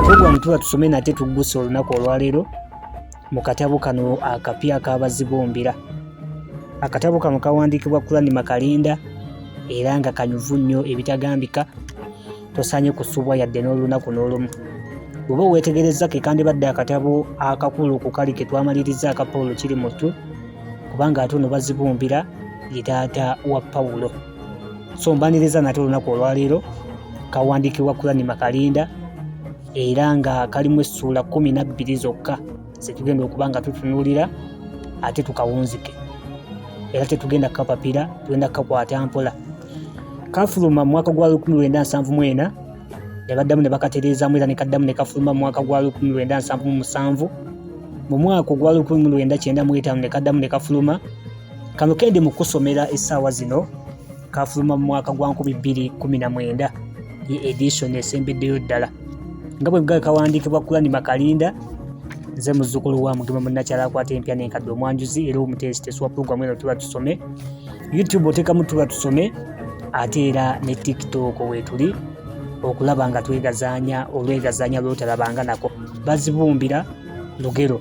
Tugwa mutuba tusome nate tuggusa olunaku olwaleero mu katabo kano akapya akabazibombera akatabo kano kawandiikibwa Kurani Makalinda era nga kanyuvu nnyo ebitagambika tosaanye kusubwa yadde n'olunaku n'olumu bw'oba oweetegerezza ke kandibadde akatabo akakulu ku kali ke twamaliriza aka Pawulo kiri mutu kubanga ate ono bazibumbira ye taata wa Pawulo so mbaniriza nate olunaku olwaleero kawandiikibwa kulani makalinda era nga kalimu essuula kumi nabbiri zokka zetugenda okuba nga tutunuulira ate tukawunzike era tetugenda kukapapira tugenda kukakwata mpola kafuluma mwaka gwa 1974 ne baddamu ne bakatereezamu era ne kaddamu ne kafuluma mwaka gwa 1977 mu mwaka ogwa 1995 ne kaddamu ne kafuluma kano kendi mu kusomera essaawa zino kafuluma mu mwaka gwa 2019 ye edition esembeddeyo ddala nga bwe bwegaba kawandiikibwa kulani makalinda nze muzzukulu wa mugema munnakyala akwata empya nenkadde omwanjuzi era omuteesiteesi wa pulogulamu eno tuba tusome youtube otekamu tuba tusome ate era ne tiktok wetuli okulaba nga twegazanya olwegazanya lwotalabanga nako bazibumbira lugero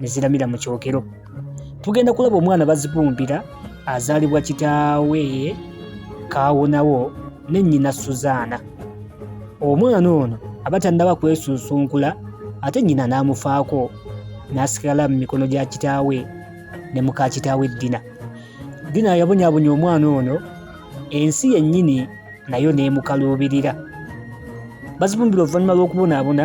ne ziramira mu kyokero tugenda kulaba omwana bazibumbira azaalibwa kitaawe kaawonawo ne nnyina suzaana omwana ono aba tannaba kwesunsunkula ate nnyina n'amufaako n'asigala mu mikono gya kitaawe ne muka kitaawe ddina ddina yabonyabonya omwana ono ensi yennyini nayo n'emukaluubirira bazibumbira oluvannyuma lw'okubonaabona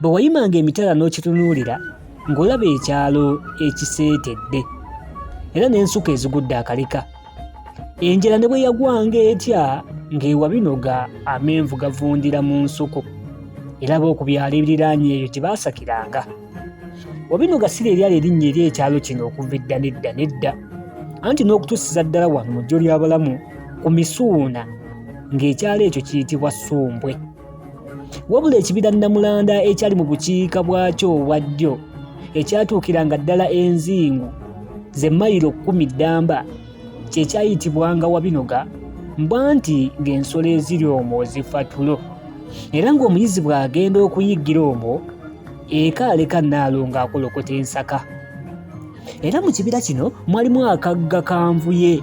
Bwe wayimanga emitala n'okitunuulira ng'olaba ekyalo ekiseetedde era n'ensuka ezigudde akaleka. Enjala ne bwe yagwanga etya ng'ewa binoga amenvu gavundira mu nsuku era b'oku byalo ebiriraanye eyo gye baasakiranga. Wabinoga si lye lyali erinnya eri ekyalo kino okuva edda n'edda n'edda anti n'okutuusiza ddala wano mu ggyo ly'abalamu ku Misuuna ng'ekyalo ekyo kiyitibwa Ssumbwe. wabula ekibira namulanda ekyali mu bukiika bwakyo obwa ddyo ekyatuukiranga ddala enzingu ze mayiro kkumi ddamba kye kyayitibwanga wabinoga mbwa nti ng'ensolo eziri omwo zifa tulo era ng'omuyizi bw'agenda okuyiggira omwo eka aleka naalo ng'akolokota ensaka era mu kibira kino mwalimu akagga kanvuye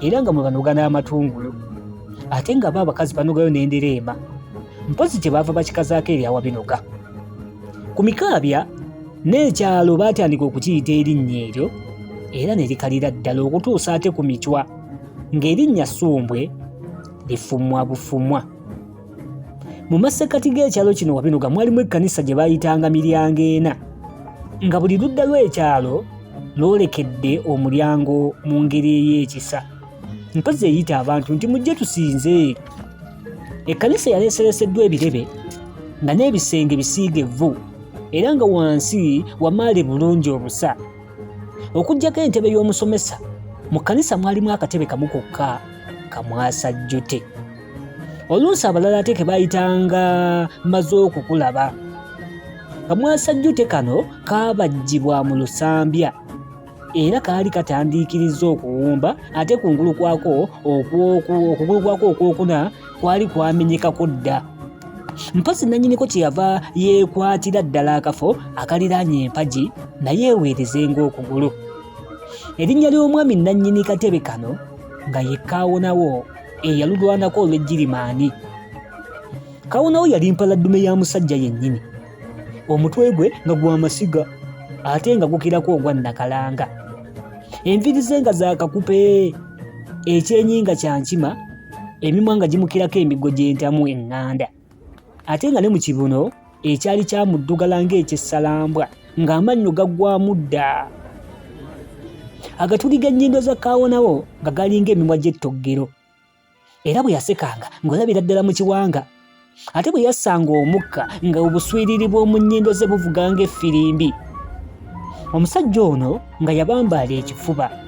era nga mwe banoga n'amatungulu ate nga bo abakazi banogayo n'endereema mpozi gye baava bakikazaako eryawa binoga ku mikaabya n'ekyalo baatandika okukiyita erinnya eryo era ne likalira ddala okutuusa ate ku micwa ng'erinnya sumbwe lifumwa bufumwa mu masekkati g'ekyalo kino wabinuga mwalimu ekkanisa gye baayitanga miryango ena nga buli ludda lw'ekyalo lwolekedde omulyango mu ngeri ey'ekisa mpozi eyita abantu nti mujje tusinze ekkanisa yaleesereseddwa ebirebe nga n'ebisenge bisiige vvu era nga wansi wamaale bulungi obusa okuggyako entebe y'omusomesa mu kkanisa mwalimu akatebe kamu kokka kamwasajjute oluusi abalala ate kebayitanga maze okukulaba kamwasajjute kano kaabajjibwa mu lusambya era kaali katandiikiriza okuwumba ate kungulu kwako okugulu kwako okwokuna kwali kwamenyekako dda mpasi nannyiniko kyeyava yeekwatira ddala akafo akaliraanye empagi naye eweereze ng'okugulu erinnya ly'omwami nannyini katebe kano nga yekaawonawo eyalulwanako olw'ejjirimaani kawonawo yali mpaladdume ya musajja yennyini omutwe gwe nga gwa masiga ate nga gukirako ogwa nakalanga enviri ze nga zakakupe ekyenyi nga kyankima emimwa nga gimukirako emigo gy'entamu eŋŋanda ate nga ne mu kibuno ekyali kyamuddugala ng'ekyessalambwa ng'amannyo gaggwamu dda agatuli g'ennyindo za kaawonawo nga galinga emimwa gy'ettoggero era bwe yasekanga ng'olabira ddala mu kiwanga ate bwe yassanga omukka nga obuswiriri bw'omu nnyindo ze buvuga ng'effirimbi omusajja ono nga yabambaala ekifuba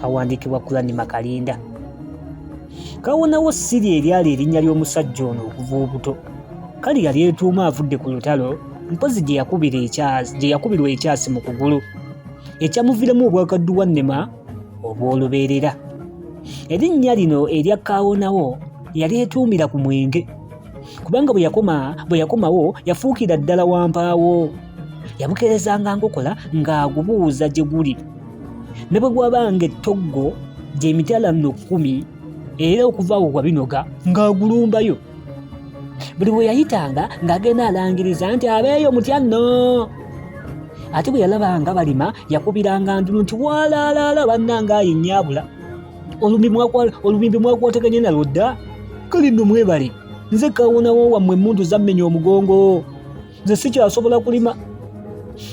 kawandiikibwa Kulani Makalinda kawonawo siri eryali erinnya ly'omusajja ono okuva obuto kali yali etuuma avudde ku lutalo mpozi gye yakubirwa ekyasi mu kugulu ekyamuviramu obwakadduwa nnema obw'olubeerera erinnya lino erya kawonawo yali etuumira ku mwenge kubanga bwe yakoma bwe yakomawo yafuukira ddala wampaawo yabukerezanga nkokola ng'agubuuza gye guli ne bwe gwabanga ettoggo gy'emitala nno kkumi era okuva awo wabinoga ng'agulumbayo buli bwe yayitanga ng'agenda alangiriza nti abeeyo mutya nno ate bwe yalabanga balima yakubiranga ndulu nti walaalaala bannanga ayi nnyabula olubimbi mwakwataganye nalwo dda kali nno mwebale nze kawonawo wammwe emmundu zammenya omugongo nze sikyasobola kulima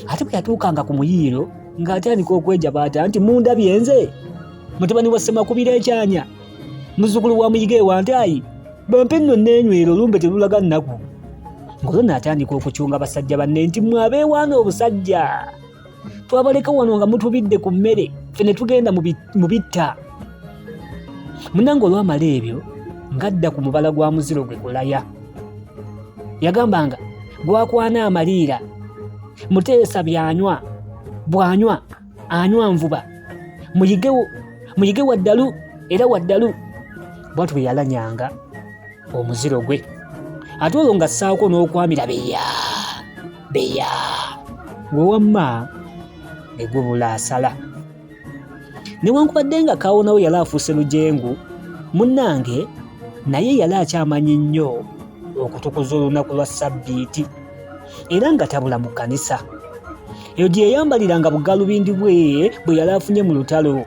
ate bwe yatuukanga ku muyiiro ng'atandika okwejabaata nti munda byenze mutabani wa ssemakubira ekyanya muzzukulu wa muyiga ewantaayi bampe nno neenywera olumbe terulaga nnaku ng'olwo naatandika okucunga basajja banne nti mwe abeewaana obusajja twabaleka wano nga mutubidde ku mmere ffe ne tugenda mu bitta munange olwamala ebyo ng'adda ku mubala gwa muziro gwe kulaya yagambanga gwakwana amaliira muteesa byanywa bwanywa anywa nvuba muyige waddalu era waddalu bwatu bwe yalanyanga omuziro gwe ate olwo nga ssaako n'okwamira beya beya gwe wamma ne gubula asala newankubadde nga kawonawo yali afuuse lujengu munnange naye yali akyamanyi nnyo okutukuza olunaku lwa ssabbiiti era nga tabula mu kkanisa eyo gye yayambalira nga bugalubindi bwe bwe yali afunye mu lutalo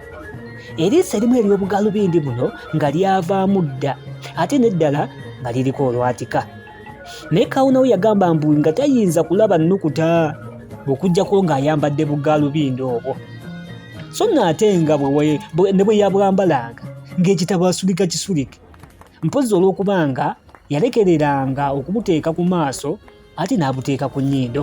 eriiso erimu ery'obugalubindi buno nga lyavaamu dda ate n'eddala nga liriko olwatika naye kawunawo yagamba mbu nga tayinza kulaba nnukuta okujjako ng'ayambadde bugaalubindo obwo so nno ate nga ne bwe yabwambalanga ng'ekitabo asulika kisulike mpozzi olw'okuba nga yalekereranga okubuteeka ku maaso ate n'abuteeka ku nnyindo